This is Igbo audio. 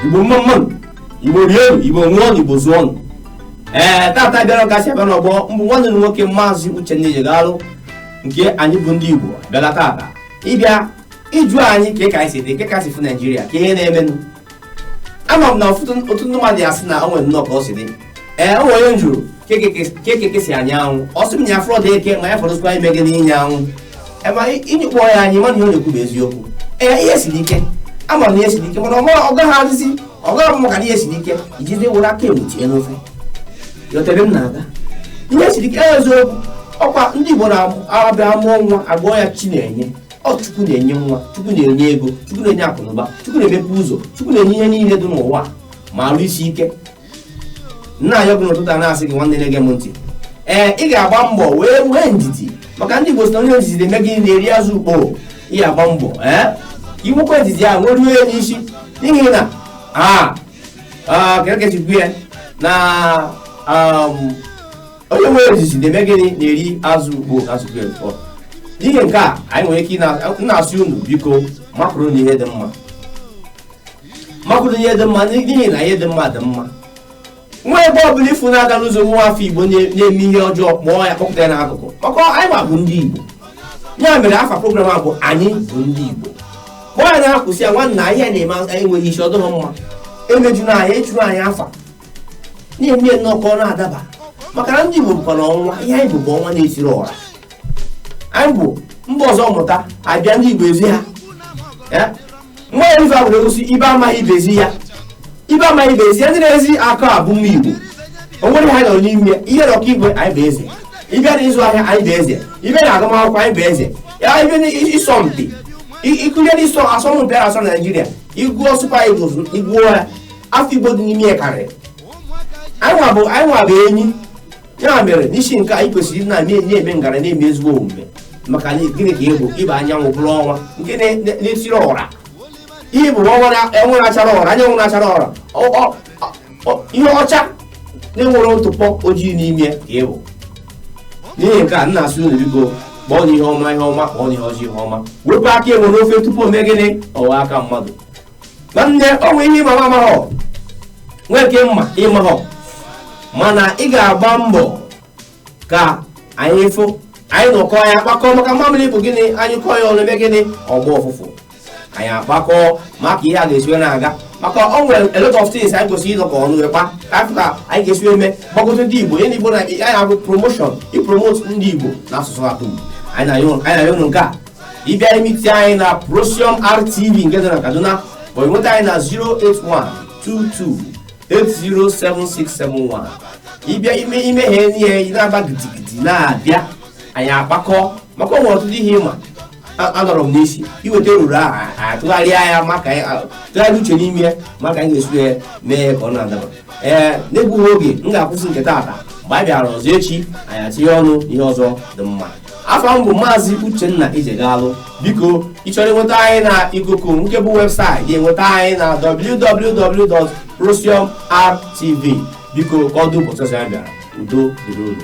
igbo mma mma nụ igbo rie nụ igbo ṅụọ nụ igbo zụọ nụ ee tata bịara ka e si abịa n'ọgbọ m bụ nwanne unu nwoke maazị uchenna ejegalụ nke anyị bụ ndị igbo bịala tata ịbịa ịjụ anyị ka ị ka anyị si dị ka ị ka si fụ naijiria ka ihe na-emenụ ama m na ọtụtụ ndị mmadụ asị na o nwe nnọọ ka ọ si dị ee o nwe onye m jụrụ kee ka eke si anya anwụ ọ sị m na ya afụrọdị eke ma ya fọdụzikwa ime gịnị ịnya anwụ ema ịnyụkpọ ya anyị mana ihe ọ na-ekwu bụ eziokwu ee ihe siri ike ama m na ihe siri ike mana ọ gaghị adịzi ọ gaghị abụ maka ihe siri ike ijide were aka egbu tinye n'ofe ị ghọtara ebe m na-aga ihe siri ike eziokwu ọkwa ndị Igbo na-abịa mụọ nwa a gụọ ya chinenye ọ chukwu na-enye nwa chukwu na-enye ego chukwu na-enye akụnụba chukwu na-emepe ụzọ chukwu na-enye ihe niile dị n'ụwa ma arụ isi ike m na-ayọ gị n'ụtụtụ a na-asị gị nwanne na-ege m ntị ee ị ga-agba mbọ wee nwee ndidi maka ndị Igbo si na onye ndidi na-eme gịnị na-eri azụ ukpo ị ga-agba mbọ ee i nwekwa ndidi a nwere ihe n'isi n'ihi na a kerekechikwu ya na um, onye nwere ndidi na-eme gịnị na-eri azụ ukpo azụ ukpo ee n'ihi nke a anyị nwere ike na-asị unu biko makụrụnụ ihe dị mma makụrụnụ ihe dị mma n'ihi na ihe dị mma dị mma nwa ebe ọbụla ị fụ na-aga n'ụzọ nwa afọ igbo na-eme ihe ọjọọ kpọọ ya kpọpụta ya n'akụkụ maka anyị nwa bụ ndị igbo ya mere afa program a bụ anyị bụ ndị igbo kpọọ ya nna kwụsị ya nwanna ihe a ị na-eme enweghị isi ọ dụghị mma emejuna anyị echuru anyị afa na-eme nnọọ ka ọ na-adaba maka na ndị Igbo bụkwa na ọnwa ihe anyị bụ bụ ọnwa na-etiri ọra anyị bụ mba ọzọ mụta abịa ndị Igbo ezi ha Eh? nwa ya ife agwụrụ egosi ibe amaghị ibe ezi ya ibe amaghị ibe ezi ya ndị na-ezi akọ a bụ mma Igbo o nwere ha nọ n'ime ya ị bịa na ọkaikpe anyị bụ eze ị bịa na ịzụ ahịa anyị bụ eze ị bịa na agụmakwụkwọ anyị bụ eze ya ị bịa na ịsọ mpi ikụnye na ịsọ asọmpi a asọ na Naịjirịa ị gụọ Super Eagles ị gụọ ya afọ igbo dị n'ime ya karịrị anyị nwa bụ anyị nwa bụ enyi ya mere n'ihi nke a anyị kwesịrị ịdị na-eme enyi eme ngara na-eme ezigbo omume maka na gịnị ka ị bụ ị bụ anyanwụ bụrụ ọnwa nke na- na- na-etiri ọra ị bụ ọnwa na- ọnwa na-achara ọra anyanwụ na-achara ọra Ọ- ọ- ọ- ihe ọcha na-enwerọ ntụpọ ojii n'ime ya ka ị bụ n'ihi nke a m na-asị unu biko kpọọnụ ihe ọma ihe ọma kpọọnụ ihe ọjọọ ihe ọma wepụ aka enwe n'ofe tupu o mee gịnị ọ ghọọ aka mmadụ nwanne o nwe ihe ị ma mụ nwa amaghọ nwee nke m ma ị maghọ mana ị ga-agba mbọ ka anyị fụ anyị nọkọ anyị akpakọ maka mmamịrị bụ gịnị anyụkọọ ya ọnụ o mee gịnị ọ gbaa ụfụfụ anyị akpakọ maka ihe a ga-esi wee na-aga maka o nwere a lot of things anyị kwesịrị ịnọkọ ọnụ wee kpaa ka a fụ ka anyị ga-esi wee eme gbagote ndị igbo ihe ndị igbo na anyị abụ promotion ipromote ndị igbo na asụsụ atụm anyị na-ayọ unu nke a ị bịa imiti anyị na Procyon RTV nke dị na Kaduna ma nweta anyị na 08122807671 ịbịa ime ihe ị na-agba gidigidi na-abịa anyị akpakọ maka o nwere ọtụtụ ihe ịma anọrọ m n'isi iweta eruru ahụ atụgharịa ya maka tụgharịa uche n'ime ya maka anyị ga-esi ya mee ya ka ọ na-adaba ee n'egbughị oge m ga-akwụsị nke taata mgbe a bịara ọzọ echi anyị atinye ọnụ ihe ọzọ dị mma afa m bụ maazị uchenna ijegalụ biko ị chọrọ inweta anyị na ikuku nke bụ webụsaịtị ga-enweta anyị na www.procyonrtv biko ka ọ dị ụbọchị ọzọ ya bịara udo dịrị unu